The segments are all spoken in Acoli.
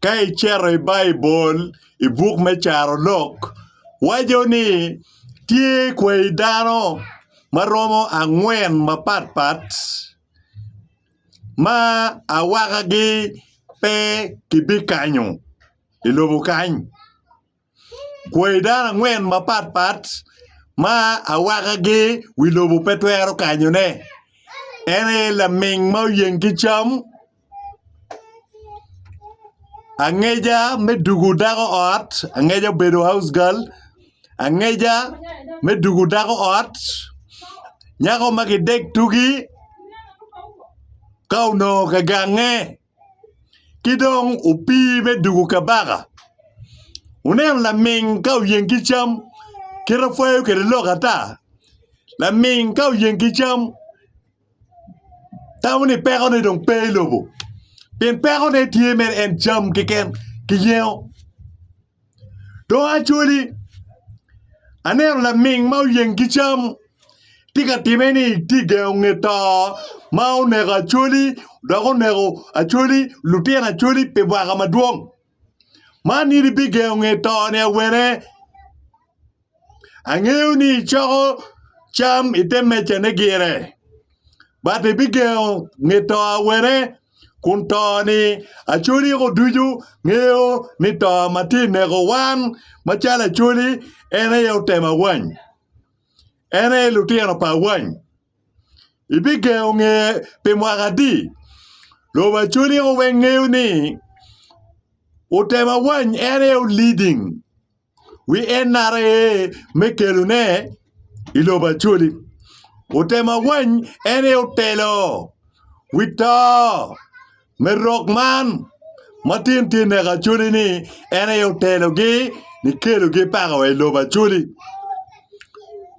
Ka icito i Baibul i buk me Carolok, waco ni tye kwayi dano ma romo angwen mapatpat ma awakagi pe kibikanyo i lobo kany. Kwayi dano angwen mapat pat ma awakagi wi lobo pe twero kanyone en aye laming ma oyeng ki cam angeca me dugu dako ot angeca obedo haus gal angeca me dugu dako ot nyako ma gidek tugi ka onongo ka gange. ki dong opii me dwogo kabaka wuneno laming ka oyeng ki cam kit ma pwoyo kwede lok ata laming ka oyeng ki cam tamo ni pekone dong pe i lobo pien pekone tye mere en cam keken ki yengo. Dong Acholi, aneno laming ma oyeng ki cam tye ka timme ni tye ka gengo nge to ma oneko Acholi dok oneko Acholi lutino Acholi pi mwaka madwong. Man in ibigengo nge to ni awene? Angeyo ni icoko cam i te mejane gire, but ibigengo nge to awene, kun to-ni acoliko ducu ngeyo ni to ma tye ka neko wan macalo acoli en aye otemo awany, en aye lutino pa awany. Ibigengo nge pi mwaka adi? Lobo acoliko weng ngeyo ni otemo awany en aye o-leading. wi NRA me kelone i lobo Acholi. Otemo awany en aye otelo wi to me rok man ma tin tye neko Acholi ni en aye otelogi ni kelogi paka wa i lobo Acholi.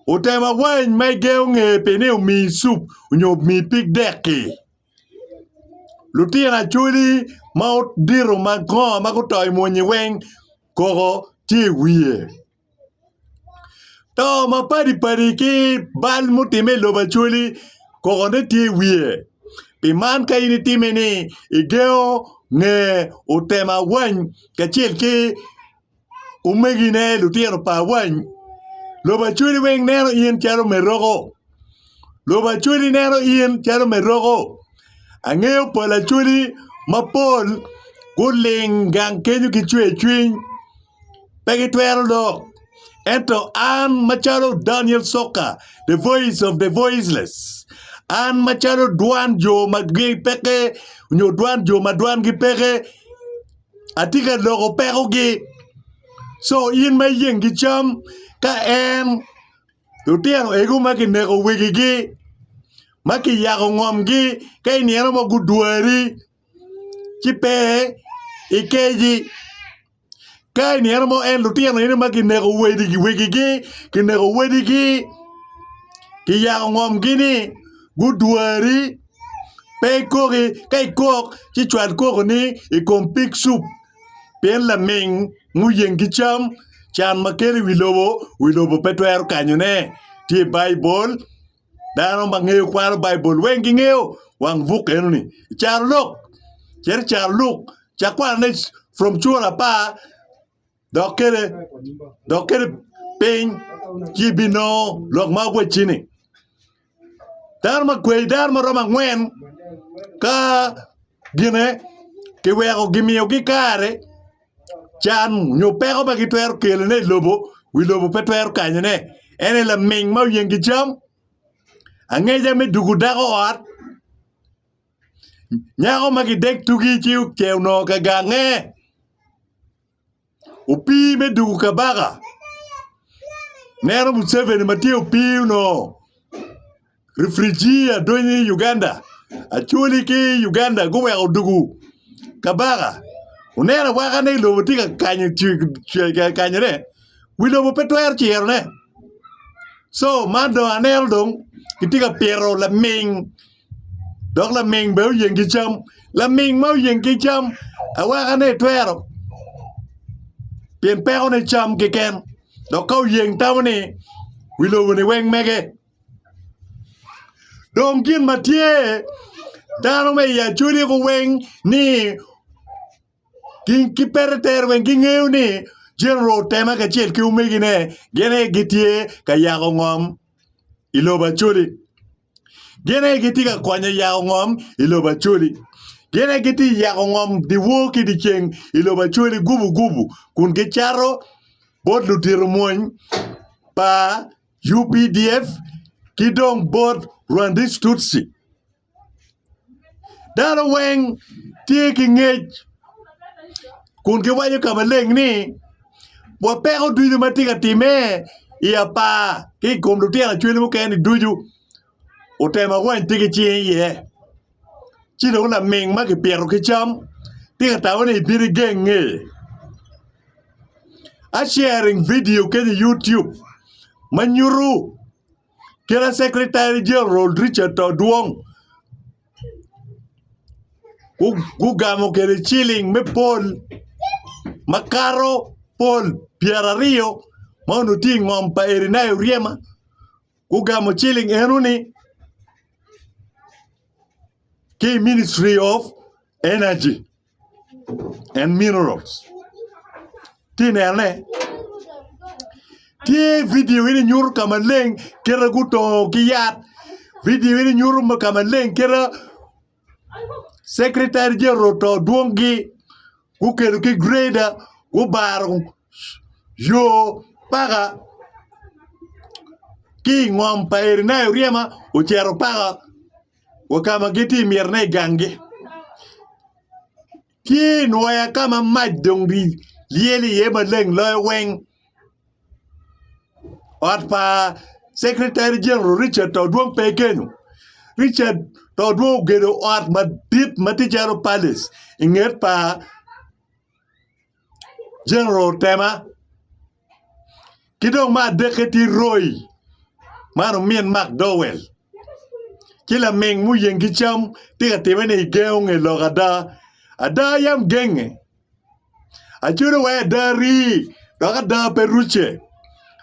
Otemo awany ma igengo ngeye pi ni omiyi cup nyo omiyi pig dek-ki. Lutino acholi ma odito makongo ma guto i muni weng koko tye i wiye to mapadi padi ki bal ma otime i lobo acholi koko ne tye i wiye pi man ka in itime ni igengo nge otem awany kacel ki omegine lutino pa awany lobo acholi weng neno in calo me roko lobo acholi neno in calo me roko angeyo pol acholi mapol guling gang kenyo ki cwercwiny pe gitwero lok ento an macalo Daniel Coka the voice of the voiceless an macalo dwan jo ma gipekke nyo dwan jo ma dwangi peke Atye ka loko pekogi. Co in ma iyeng ki cam ka en lutino ego ma kineko wegigi ma kiyako ngomgi ka i nino mo gudwari ci pe ikeji ka i nino mo en lutino eno ma kineko wegigi kineko wadigi kiyako ngomgi-ni gudwari. pe ikoki ka ikok ci cwal kokoni i kom pig cup pien laming muyeng ki cam can ma kelo i wi lobo wi lobo pe twero kanyone tye i Baibul dano ma ngeyo kwano Baibul weng gingeyo wang buk enoni caro lok cit icaro luk cak kwanone from cura apar dok kene dok kene piny ci ibinongo lok ma awacci-ni. Dano ma kweyo dano ma romo angwen ka gine kiweko kimiyogi kare can nyo peko ma gitwero kelone i lobo wi lobo pe twero kanyone en aye laming ma oyengi cam, angeca me dugo dako ot. Nyako ma gidek tugi ci oce onongo ka gange opii me dugu kabaka neno Museveni ma tye opii onongo rifrijia donyo i Uganda acholi ki Uganda guweko dugu kabaka oneno awaka ni lobo tye ka kanyo kanyone wi lobo pe twero cirone co man dong aneno dong kitye ka pito laming dok laming bene oyeng ki cam laming ma oyeng ki cam awaka ni itwero pien peko ne cam keken dok ka oyeng tamo ni wi lobo ni weng mege dong gin ma tye dano me i acwali guweng ni ki pete tere weng ki ngeyo ni General Otema kacel ki omegi ne gin aye gitye ka yako ngom i lobo Acholi. Gin aye gitye ka konyo i yako ngom i lobo Acholi. Gin aye gitye i yako ngom dyewor ki dyeceng i lobo Acholi gubugubu kun gicato bot ludito mwony pa UPDF ki dong bot Rwandese Tutsi. Dano weng tye ki ngec kun giwaco ka maleng ni wa peko ducu ma tye ka timme i apar ki i kom lutino ocwele mukene-ni ducu otemo awany pe gicinge iye ci dong laming ma kipito ki cam tye ka tamo ni bino igenge I sharing video kenya i YouTube ma nyutu Kine Secretary General Richard Todwong gugamo kwede ciling me pol makato pol pyeraryo ma onongo tye i ngom pa Erineya Oryema gugamo ciling eno ni ki i Ministry of Energy. and minerals tye inene tye video eni nyuto ka maleng kite gutongo ki yat video eni nyuto ka maleng kite Secretary General oto dwongi gukelo ki greader gubaro yo paka ki ingom pa Erinia Oryema ocito paka wa ka ma gitye i myerone i ganggi. Tye i nwoya ka ma mac dong lyel iye maleng loyo weng. Ot pa Secretary General Richard to dong pe kenyo. Richard to dong ogedo ot madit ma tye calo palace i nget pa. General Tema ki dong me adekke tye Roy man omin McDowell ci laming muyeng ki cam tye ka timme ni igengo nge lok ada, ada yam genge acodo wa ada rii dok ada pe rucce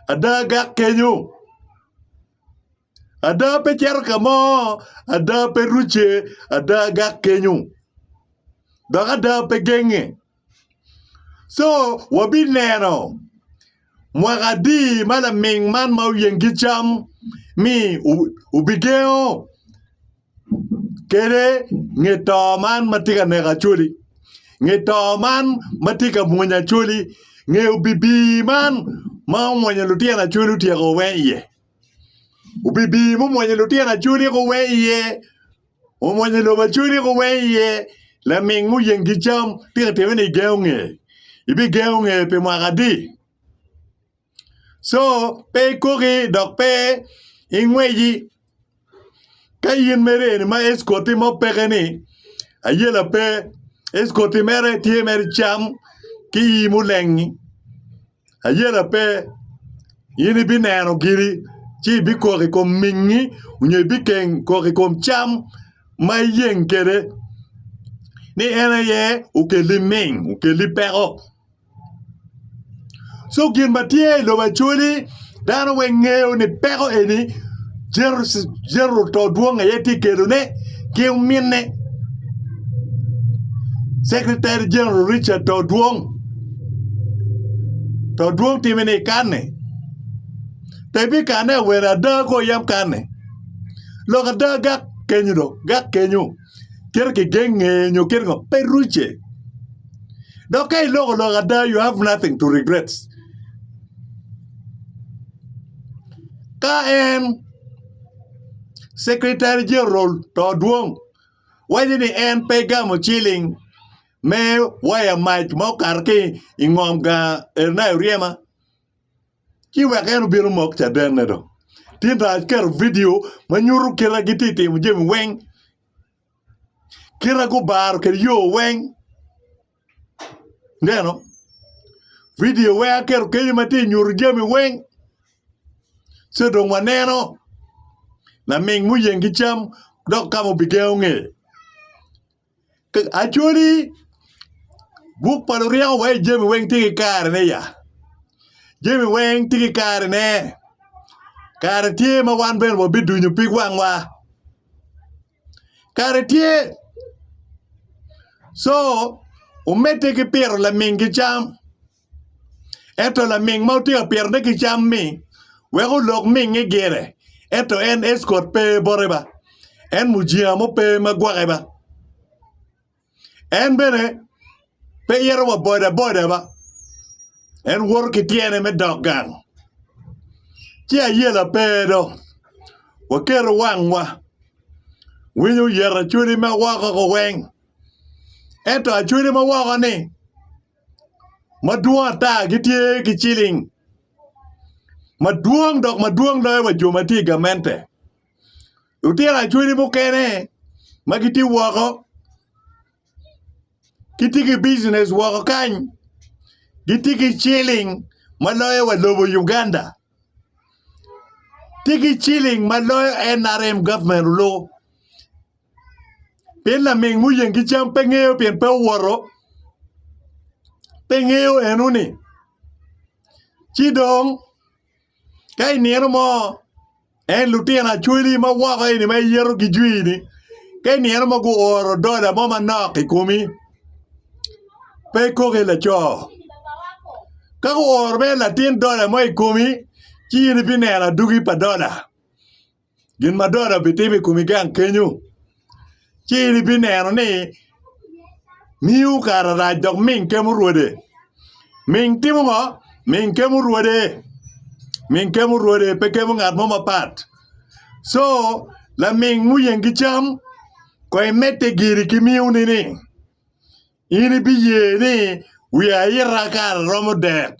ada gak kenyo. Ada pe cito ka mo, ada pe rucce, ada gak kenyo, dok ada pe genge. Co wabineno mwaka adi ma laming man ma oyeng ki cam ni obigengo kede nge to man ma tye ka neko Acholi, nge to man ma tye ka mwonyo Acholi, nge obibi man ma omwonyo lutino Acholi otyeko weng iye. obibir me omwonyo lutino acholi ku weng iye omwonyo lobo acholi ku weng iye laming muyeng ki cam tika itime ni igengo nge ibigengo nge pi mwaka adi co pe ikoki dok pe ingweji ka in mere eni ma escort mo peke ni ayela pe escort mere tye mere cam ki i mulengi. Ayela pe, in ibineno giri, ci ibikok i kom mingngi onyo ibikeng kok i kom cam ma iyeng kwede, ni en aye okelli ming, okelli peko. Co gin ma tye i lobo acoli. Dano weng ngeyo ni peko eni jeroto dwong aye tye kedone ki ominne Secretary General Richard to dwong to dwong time ni kanne pe bi kanne awene ada ko yam kanne lok ada gak kenyo do gak kenyo kite kigenge nyo kite ngo pe ruce dok ka iloko lok ada you have nothing to regret ka en secretary general to dwong waco ni en pe gamo ciling me waya mac ma okato ki ingom gang Elnayo Ryema ci wek en obino mok cadene do tinda aketo vidio ma nyuto kite gitye timo jami weng kite gubaro kede yo weng neno vidio weng aketo kenyo ma tye nyuto jami weng ci dong waneno laming muyeng ki cam dok ka ma obigengo nge Acholi, buk pa luryeko waci jami weng tye ki karene ya. Jami weng tye ki karene. Kare tye ma wan bene wabidunyo pig wangwa. Kare tye. Co omedde ki pito lamingi cam. Ento laming ma otiko pirene ki cam-mi weko olok mingnge gire, ento en Eskot pe bote ba, en mujinga mo pe ma gwoke ba. En bene pe ito wa bodaboda ba, en woto ki tyene me dok gang. Ci ayela pe do, waketo wangwa, winyo oyet acwodi ma woko-ni weng, ento acwodi ma woko-ni. madwong ata gitye ki ciling madwong dok madwong loyo wa jo ma tye i gamente lutino acholi mukene ma gitye woko gitye ki bijinec woko kany gitye ki ciling ma loyo wa lobo Uganda tye ki ciling ma loyo NRM gavment olu. Pien laming muyeng ki cam pe ngeyo pien pe owoto, pe ngeyo eno-ni. Ci dong ka i nino mo en lutino acwali ma woko eni ma iyeto gijwi-ni ka i nino mo guoro dola mo manok i komi pe ikoki laco. Ka guoro bene latin dola mo i komi ci in ibineno aduki pa dola. gin ma doda bitimo i komi gang kenyo, ci in ibineno ni miu kare rac dok ming kemo rwode. Ming timo ngo? Ming kemo rwode. Ming kemo rwode, pe kemo ngat mo mapat. So, laming muyeng ki cam, kong imedde giri ki miu nining? In ibiye ni wi aita kare romo dek.